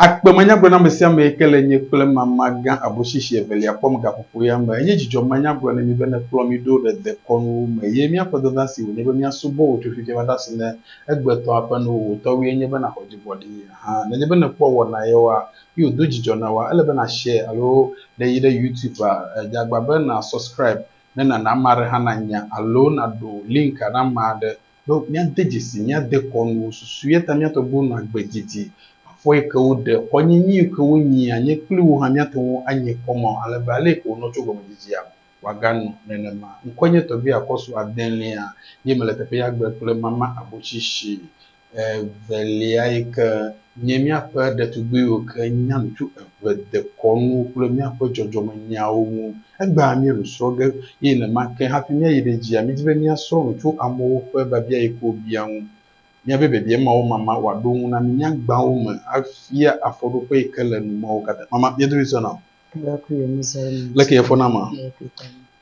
Akpe menyagblɔ na ame sia ame yi ke le nye kple mama gã aboshishi evelia kpɔm gaƒoƒoea me. Enye dzidzɔ manya gblɔ na mi be nèkplɔ mi ɖo ɖe dekɔnuwo me ye míaƒe dada si wònye be míasubɔ wò tso fifia va ɖe asi ne egbetɔ aƒe nuwo. Wò tɔwòe nye be nàxɔ dzigbɔɖii hã. Nenye be nèkpɔ wɔna yawoa, ye wòdo dzidzɔ na woa, ele be nàshare alo ne yi ɖe Youtubea, dze agbagba be nàsɔscribe ne nàna ame aɖe hã nanya alo nàɖo linka na ame aɖe Ɖo míade dzesi mía dekɔnuwo susu, eya ta mía tɔgbuiwo nɔ agbe didi. Afɔ yi ke woɖe, xɔnyinyi yi ke wonyi, anye kpli wo hã míate ŋu anyi kɔ mɔ ale be ale yi ke wonɔ tso gɔmedzidzia me wòaganɔ nenema. Ŋkɔe nye tɔgbui akɔsu adelia ye mele teƒe ya gbe kple mama abotsi shi evelia yi ke. Nye míaƒe ɖetugbuiwo ke nya nu tso eve dekɔnu kple míaƒe dzɔdzɔmenyawo ŋu. Egbea míelũ srɔ̃ ge, eye nenema ke hafi míayi ɖe edzia, mídi be míasrɔ̃ nu tso amewo ƒe biabia yi ke wobia ŋu. Míabe biabia mawo mama wòaɖo ŋu na mí míagbã wo me afia afɔɖoƒe yi ke le nu mawo katã mama mía dometɔ na. Leke yefɔ na ma?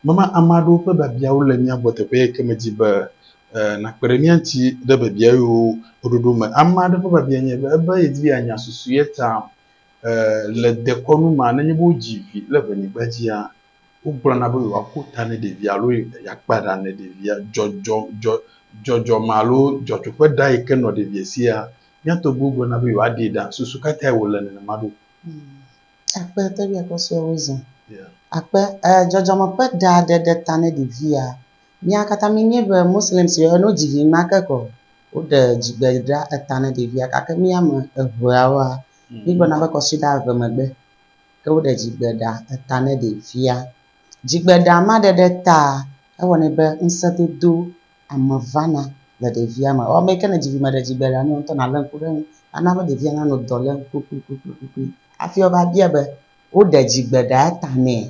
Mama ame aɖewo ƒe biabiawo le mía gbɔ teƒe yike medi be nàkpe ɖe mía ŋuti ɖe biabia yewo ɖoɖo me. Ame aɖe ƒe biabia nye be ebe yedi be yeanya susu ye ta le dekɔnu mea, nenye be wodzi vi le ƒe nyigba dzia, wogblɔna be yewoaƒo ta ne ɖevia alo yeakpa ɖa ne ɖevia. Dzɔdzɔme alo dzɔtsoƒe ɖa yike nɔ ɖevia sia, mía tɔgbuiwo gblɔna be yewoaɖee ɖa. Susu ka tae wòle nenema ɖo? Akpe teƒe akpe sue wo zã. Akpe e dzɔdzɔme ƒe ɖa ɖe ɖe ta ne ɖevia. Mía katã mi nye be Muslim si wo no dzi vi ma ke kɔ. Wo ɖe dzi gbe ɖa eta ne ɖevia gake mi ame evea woa mi gblɔ na be kɔ si ɖa eve megbe ke wo ɖe dzi gbe ɖa eta ne ɖevia. Dzi gbe ɖa ma ɖe ɖe ta ewɔ nɛ be ŋse dodo ame vana le ɖevia me. Ame yi ke ne dzi vi meɖe dzigbea la, ne wò ŋutɔ nàlé ŋku ɖe eŋu. Ana be ɖevia nanɔ dɔ lém kpukpukpukpukpui hafi woava bia be, woɖe dzigbe ɖaa ta nɛa?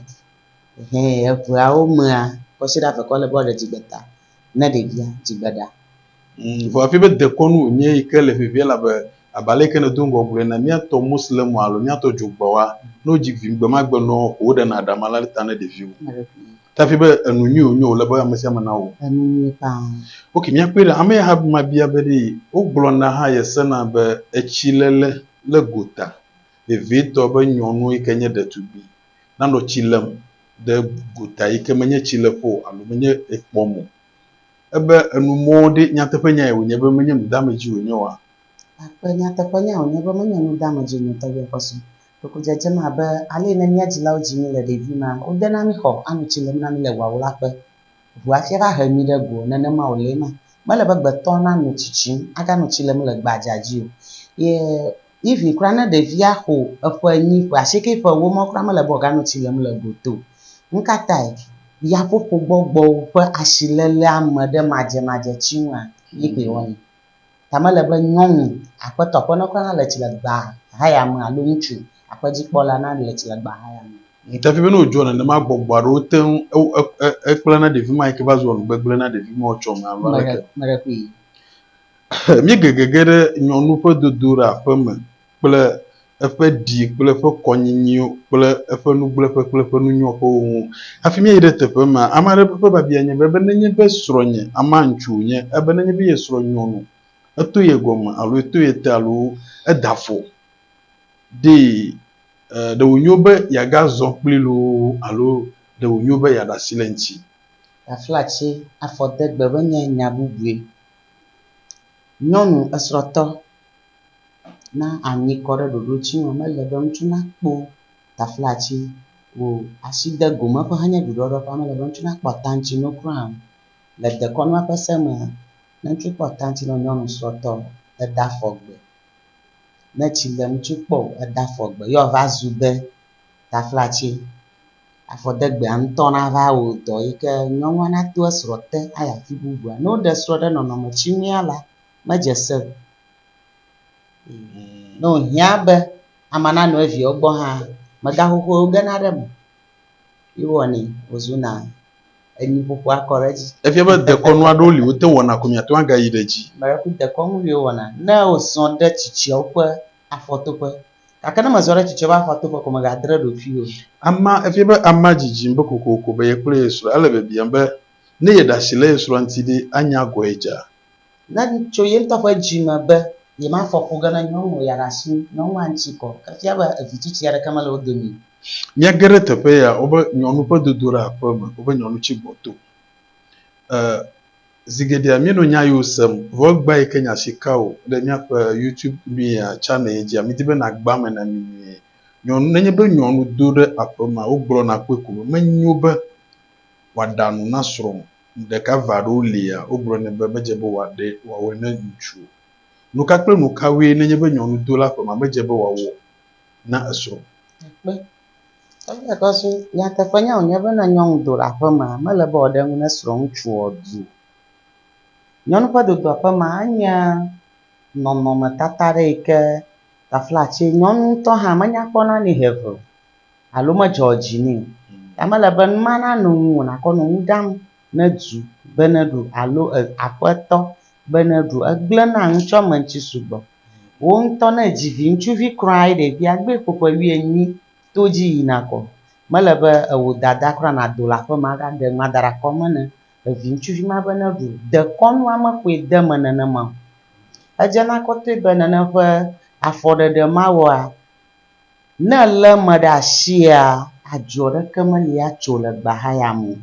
Hɛ eŋeawo mea, kɔsiɖa eve koe le be woaɖe dzigbe ta ne ɖevia dzigbe ɖa. Ŋ, vɔ efia be dekɔnu wònye yi ke le vevie elabe abe ale yi ke nèdo ŋgɔ gblɔe ene, míatɔ Moslemwo alo míatɔ dzogbewoa, ne wodzi vi gbemagbe nɔ ƒo woɖena ɖa ma la ɖe ta ne ɖeviwo. Dafi be enu nyui wònye wòle be ame sia ame nawɔ. Enu nyui ƒãa. Ok, míakpɔe ɖa. Ame Ahab ma bia be ɖee wogblɔna hã yesena be etsiléle le gota vevietɔ be nyɔnu yi ke nye ɖetugbui nanɔ tsi lém ɖe gota yi ke menye tsileƒe o alo menye ekpɔm o. Ebe enu mɔ ɖe nyateƒenyae wònye be menye nudeamedzi wònye oa? Akpe nyateƒenyae wònye be menye nudeamedzi o nɔtɔgbe kpɔsɔ. Ɖeko dzedzem abe ale yi ne mía dzilawo dzi mí le ɖevi ma, wodena mí xɔ, ano tsi le mí na mí le ʋuawlaƒe, ʋu hafi ava he mí ɖe go. Nenema wòle ema. Mele be gbetɔ nano tsi tsim, agano tsi le mí le gbadzaa dzi o. Ye even kura ne ɖevia xɔ eƒe enyi, ƒe asieke, ƒe ewo ma, wokura mele be wòagano tsi le mí le go te o. Nukatae? Yaƒoƒo gbɔgbɔwo ƒe asilelea me ɖe madzemadze tsi ŋua, ye koe wɔnɛ. Ta mele be nyɔnu, aƒetɔ, aƒenɔke hã le tsi le gbea hayame alo ŋutsu, aƒedzikpɔla, na le tsi le gbea hayame. Ŋutafia be ne wòdzɔa nenema gbɔgbɔ aɖewo te ŋu ekpla na ɖevi ma yi ke va zua nugbegble na ɖevi ma wòtsɔ me alo aleke. Meɖe kpui. Míegegege ɖe nyɔnu ƒe dodoɖa ƒe me. kple eƒe ɖi kple eƒe kɔnyinyi kple eƒe nugblẽƒe kple eƒe nunyɔƒewo ŋu. Hafi míayi ɖe teƒe ma, ame aɖe ƒe biabia nye be, ebe nenye be srɔ̃nye, amea ŋutsu wònye, ebe nenye be ye srɔ̃ nyɔnu, eto ye gɔme alo eto ye te alo eda afɔ ɖee, ɖe wònyo be yeagazɔ kpli loo alo ɖe wònyo be yeaɖe asi le eŋuti? Aflatsi, afɔdegbe menye nya bubue. Nyɔnu esrɔ̃tɔ. Na anyi kɔ ɖe ɖoɖo dzi me. Mele be ŋutsu nakpo taflatsi o. Asi de gome ƒe henye ɖuɖɔɖɔ ƒe mele be ŋutsu nakpɔ atantsinu kura o. Le dekɔnua ƒe se me, ne ŋutsu kpɔ atantsinu wɔ nyɔnu srɔ̃tɔ eda afɔ gbe. Ne tsi le ŋutsu kpɔ o eda afɔ gbe ye wòava zu be taflatsi. Afɔdegbea ŋutɔ nava wɔ dɔ yi ke nyɔnua nato esrɔ̃ te ayi afi bubua. Ne woɖe srɔ̃ ɖe nɔnɔme tsi nua la medze se o. Ne wòhiã be amea nanɔ eviawo gbɔ hã, megaxoxoe wogena ɖe eme ye wowɔnɛ wòzuna enu ƒoƒo akɔ ɖe edzi. Efia be dekɔnu aɖewo li wote wɔna ko miate ŋu agayi ɖe edzi. Ame ɖe ku dekɔnu li wowɔna ne wozɔ ɖe tsitsiawo ƒe afɔtoƒe gake ne mezɔ ɖe tsitsiawo ƒe afɔtoƒe ko mègadre ɖokuiwò o. Amea, efia be amea dzidzim be kokoko be yekple ye srɔ̃, ele biabiam be ne yeɖe asi le ye srɔ̃a ŋuti ɖe, anya agɔe dzaa. Ne tso ye ŋutɔ ƒe dzi me be yemafɔ fu ge ne nyɔnu ya ɖe asi nyɔnua ŋuti kɔ efia be evi tsitsi aɖeke mele wo dome o. Míage ɖe teƒe ya wobe nyɔnu ƒe dodoɖa ƒe me wobe nyɔnu tsi gbɔto. E zi geɖea míenɔ nya yewo sem vɔ egbea yi ke nya si ka o le míaƒe YouTube nuyia channel ye dzia midi be nàgba eme na mí nyuie. Nyɔnu nenye be nyɔnu do ɖe aƒemea wogblɔna kpɔe ko be menyo be wòaɖa nu na srɔ̃ o. ɖeka eve aɖewo lia, wogblɔ nɛ be medze be wòaɖe wòawɔe ne ŋutsu o. Nuka kple nukawoe nenye be nyɔnudola ƒe ma medze be wòawɔ na esrɔ̃? Kpe. Eya ta so nyateƒenya wònye be ne nyɔnudola ƒe ma mele be wòaɖe nu na srɔ̃ŋutsu o du o. Nyɔnu ƒe dodoa ƒe ma enye nɔnɔmetata aɖe yi ke taflatse nyɔnu ŋutɔ hã menya kpɔna nɛ hehe o. alo medzɔ dzi nɛ o. Ta mele be numa nanɔ ŋu wò nàkɔ nɔ nu ɖam ne du be neɖu alo e aƒetɔ be neɖu. Egblẽ na ŋutsua me ŋuti sugbɔ. Wò ŋutɔ ne èdzi viŋutsuvi kura ye ɖevia gbe ƒo ƒe wuienyi to edzi yina kɔ, mele be ewò dada kura nàdo le aƒe me agaɖe nua da ɖe akɔ me ne eviŋutsuvi ma be neɖu o. Dekɔnu ame koe de eme nenema o. Edzena kɔtɔe be nane ƒe afɔɖeɖe mawɔa, Ne elé ame ɖe asia, adzɔ ɖeke meli atso le gbahaya me o.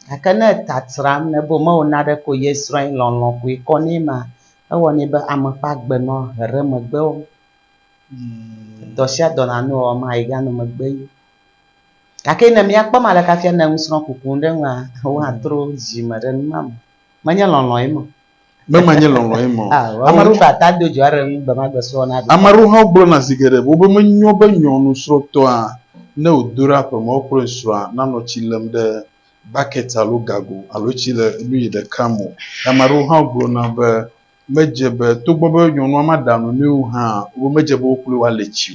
Gake ne eta tsram nɛ be womewɔ naneke o ye srɔ̃a ye lɔlɔ̃ koe kɔ nɛ ma, ewɔnɛ be ame ƒe agbe nɔ he ɖe megbe o. Dɔ sia dɔ nanɔ ewɔm ma yeganɔ megbe o. Gake ne míakpɔ ame aleke hafi anɔ nusrɔ̃kuku ɖe nua, woatro dzi me ɖe nu ma me. Menye lɔlɔ̃e me o. Mema nye lɔlɔ̃ ye me o. Ao, ame aɖewo baa ta do dzo aɖe ŋu gbemagbesrɔ̃ na ɖo. Ame aɖewo hã gblɔna zi geɖe be wobe menyo be nyɔnu srɔ̃tɔa ne wòdo ɖe aƒe me wokplɔe srɔ̃a nanɔ tsi lem ɖe bakɛt alo gago alo tsi le nuyi ɖeka me o. Ame aɖewo hã gblɔna be medze be togbɔ be nyɔnua maɖa nu nɛ o hã wobe medze be wo kloe woale tsi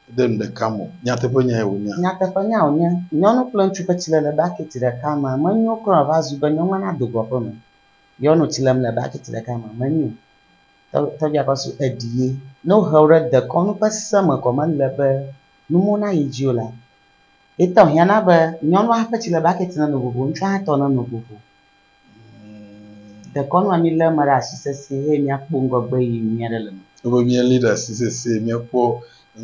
o ɖe nu ɖeka me o. Nyateƒenyae wònye? Nyateƒenyae wònye. Nyɔnu kple ŋutsu ƒe tsilele bakɛt ɖeka mea, menyo kura o va zu be nyɔnua nado go aƒe me. Nyɔnu tsi lem le bakiti ɖeka me menyo o. Tɔ tɔgbia kɔ su eɖi ye. Ne wohe wo ɖe dekɔnu ƒe se me kɔ mele be numo nayi dzi o la, etɔ hiã na be nyɔnua ƒe tsi le bakiti neno vovo ŋutsua hã tɔ neno vovo. Dekɔnua mi le eme ɖe asi sese eye mia kpɔ ŋgɔgbe yiyi nyuie aɖe le eme. Ebe mia li ɖe asi sese mia kpɔ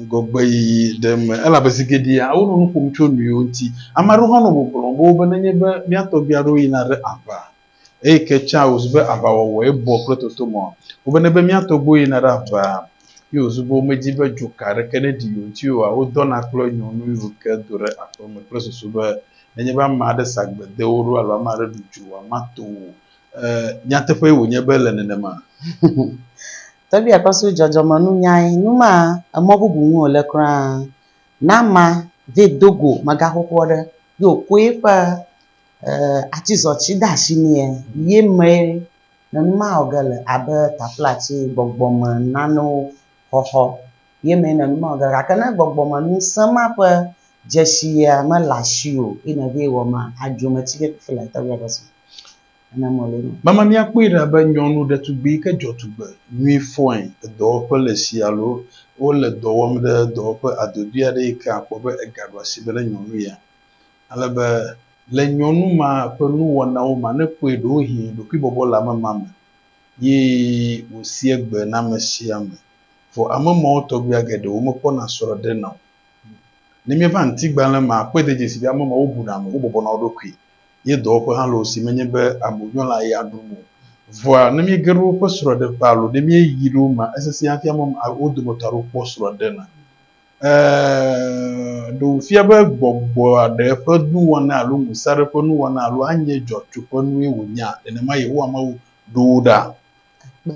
ŋgɔgbeyiyi ɖe eme. Elabe zi geɖea wonɔ nu ƒom tso nyuiwo ŋuti. Ame aɖewo hã nɔ gbɔgblɔm be wobe nenye be mía tɔgbui aɖewo yina ɖe aʋa eye ke tsã wòzu be aʋawɔwɔe bɔ kple totomɔa, wobe nenye be mía tɔgbuiwo yina ɖe aʋaa ye wòzu be womedi be dzoka aɖeke neɖi yewo ŋuti oa, wodɔna kple nyɔnu yi woke do ɖe aƒe me kple susu be nenye be ame aɖe sa gbe de wo ɖo alo ame aɖe ɖu dzo o, woamato wo o. Ee, nyateƒee wònye be ele nenema. Tɔgbi akpasu dzɔdzɔmenunyae, nu ma emɔ bubu ŋu wòle kura. Na ama ve do go mega xoxoɔ ɖe yi wò koe ƒe atizɔ tsi de ashi nɛ ye mee ne nu ma wɔ ge le abe taflatsi gbɔgbɔme nanewo xɔxɔ ye mee ne nu ma wɔ ge le gake ne gbɔgbɔme nusẽ ma ƒe dzeshia mele ashiwò yi ne ve wɔ ma adzo me tsi vevifile. Tɔgbi akpasu. ana mɔlɛ nɔ. Mama míakpɔe ɖa be nyɔnu ɖetugbui yi ke dzɔ tugbe nyui fɔe le dɔwɔƒe le si alo wole dɔ wɔm ɖe dɔwɔƒe adodui aɖe yi ke àkpɔ be egaɖo asi be ne nyɔnu ya. Ale be le nyɔnu ma ƒe nuwɔnawo me ne èkpɔe ɖewohĩ ɖokuibɔbɔ le ame ma me ye wòsi egbe na ame sia ame. Vɔ ame mawo tɔgbuia geɖe womekpɔna srɔ̃ɖe na o. Ne míeva ŋutigbalẽ mea, àkpɔe de dzesi be ame mawo buna ame, wobɔbɔna wo ɖokui ye dɔwɔƒe hã le wo si menye be aboyɔla ya ɖum o. Vɔa, ne míege ɖe woƒe srɔ̃ɖeƒe alo ne míeyi ɖe wo mea, esesẽ afia mɔm wo dometɔ aɖewo kpɔ srɔ̃ ɖe na. Ɛ̃, ɖe wòfia be gbɔgbɔ aɖe ƒe nuwɔna alo ŋusẽ aɖe ƒe nuwɔna alo anye dzɔtsoƒenue wònyea? Nenema Yehowa Mawu ɖo wo ɖa. Kpe.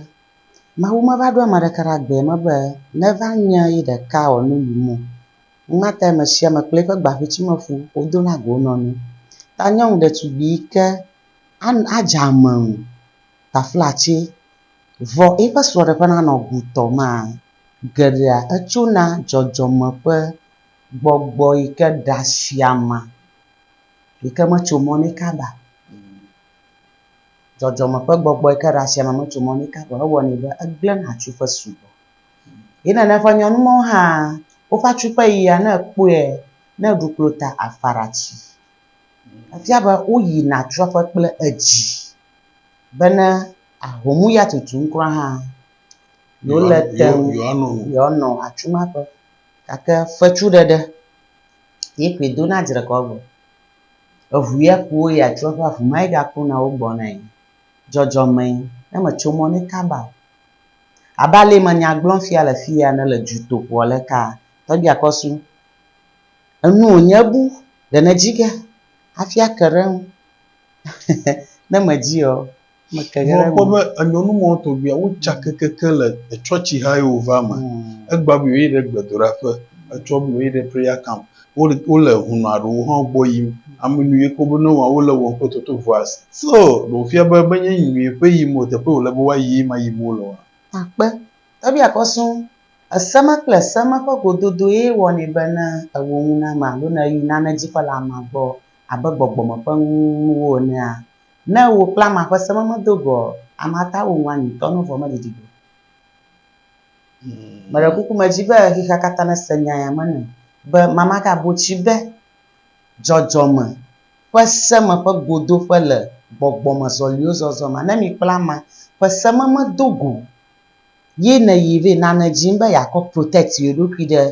Mawu meva ɖo ame aɖeke ɖe agbe me be neva nye ye ɖeka wòanɔ yiyim o. Nua tae ame sia ame kple eƒe gbaʋutsimeƒu wodona go wo nɔnɔewo. Ta nyɔnu ɖetugbui yi ke an adze ame o taflatse vɔ eƒe srɔ̃ɖeƒe nanɔ gutɔ maa, geɖea etsona dzɔdzɔme ƒe gbɔgbɔ yi ke ɖa si ama yi ke metso mɔ nɛ kaba o. Dzɔdzɔme ƒe gbɔgbɔ yi ke ɖa si ama metso mɔ nɛ kaba o ewɔnɛ be egblẽna tso ƒe subɔ. Ye nana ƒe nyɔnu mawo hã woƒe atsu ƒe yia ne ekpɔe ne eɖu klo ta afara tsi. Efia be woyina atsua ƒe kple edzi be ne ahom ya tutum kura hã yewo le te ŋu yewoanɔ atsu ma ƒe. Gake fetsu ɖeɖe ye koe do na dzre kɔ gbɔ. Eŋu ya ku wo yi atsua ƒe aŋu ma ye gakuna wo gbɔ na ye. Dzɔdzɔmee ne metso mɔ ne kaba o. Abe ale yi menya gblɔm fia le fii ene le dutoƒoa le kaa, tɔgbia kɔ su enu wònye ebu ɖe ne dzi ge hafi ake ɖe eŋu. ne me dzi ɔ, me ke ge ɖe eŋu. Vɔ kpɔ be enyɔnu mawo tɔgbia wo tsa kekeke le etsɔtsi ha yi wo va me. Egba bui wo yi ɖe gbedoɖaƒe, etsɔ bui wo yi ɖe prayer camp. wole hũnɔ aɖewo hã gbɔ yim. Ame nu ye ke wobe ne woawɔ, wole wɔm kple toto vɔa si. So ɖe wòfia be menye nyuie ƒe yim o, teƒe wòle be woayi ye ma yim wole oa? Akpe. Ebia kɔ sɔŋ. Eseme kple eseme ƒe gododo ye wɔnɛ be ne ewɔ ŋu na ame alo ne eyi nane dzikpɔla amea gbɔ abe gbɔgbɔ me ƒe nuwo enea, ne ewɔ kple amea ƒe sememedo gɔ̃, amea ta wɔ ŋu anyi ŋutɔ ne vɔ̃ meɖiɖi o. Meɖe kuku medi be xexea katã nese nya ya me nam be mama gabo tsi be dzɔdzɔme ƒe seme ƒe godoƒe le gbɔgbɔmezɔliwo zɔzɔ ma. Ne mikpla ama ƒe seme me do go ye nèyi vɛ na ne dim be yeakɔ protect yeɖokui ɖe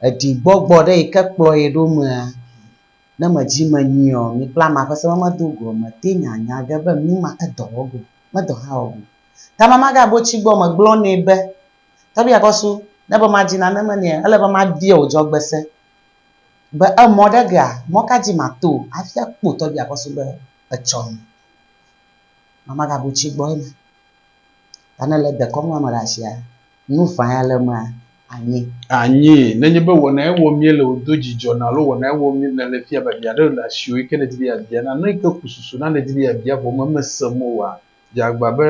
eɖi gbɔgbɔ ɖe yike kplɔ ye ɖo mea, ne medi me nyui ɔ, mikpla ama ƒe seme me do goa, mete nya nya ge be numa edɔ wɔ go, medɔ hã wɔ go. Gama magabo tsi gbɔ megblɔ nɛ be, Tɔbia kɔsu, ne be madzi nane me nɛa, ele be mabia wò dzɔgbese be emɔ ɖe gea, mɔ ka dzi mato hafi akpɔ tɔbia kɔsu be etsɔ nu. Gama magabo tsi gbɔ ema. Ta ne le dekɔm na ame ɖe asia, nu ʋã ya le emea, anyi. Anyi. Nenye be wɔnae wɔm míele wòdo dzidzɔ na alo wɔnae wɔm nèle fia be avi aɖe le asiwò yike nèdi be yeabia na, nu yike ku susu na nèdi be yeabia vɔ memesem o oa, Dzeagba be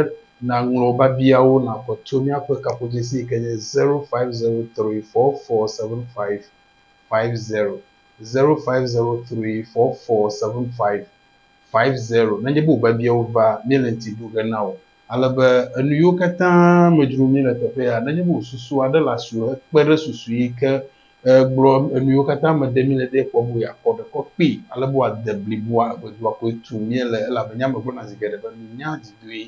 nàŋlɔ biabiawo nàxɔ tso míaƒe kaƒodzesi yi ke nye zero five zero three four four seven five five zero, zero five zero three four four seven five five zero, nenye be wò biabiawo va, míele ŋti ɖo ge na wò. Ale be enu yiwo katã me dzrom míele teƒe ya, nenye be wò susu aɖe le asiwò hekpe ɖe susu yi ke Egblɔ enu yiwo katã me ɖe míle ɖee kpɔ be yeakɔ ɖe kɔ kpee ale be wòade bliboa eŋedua koe tum míele, elabe nya megblɔna zi geɖe be minya didoe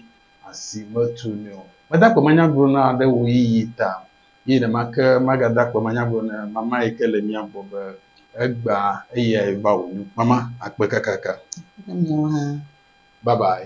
asi metunɛ o. Meda akpe manyagblɔ na ɖe ɣeyiɣi ta, eye ɖe make magada akpe manyagblɔ na mama yi ke le mía gbɔ be, Egbea eyae va wònyo. Mama, akpe kakaka. Kple miawo hã. Bye bye.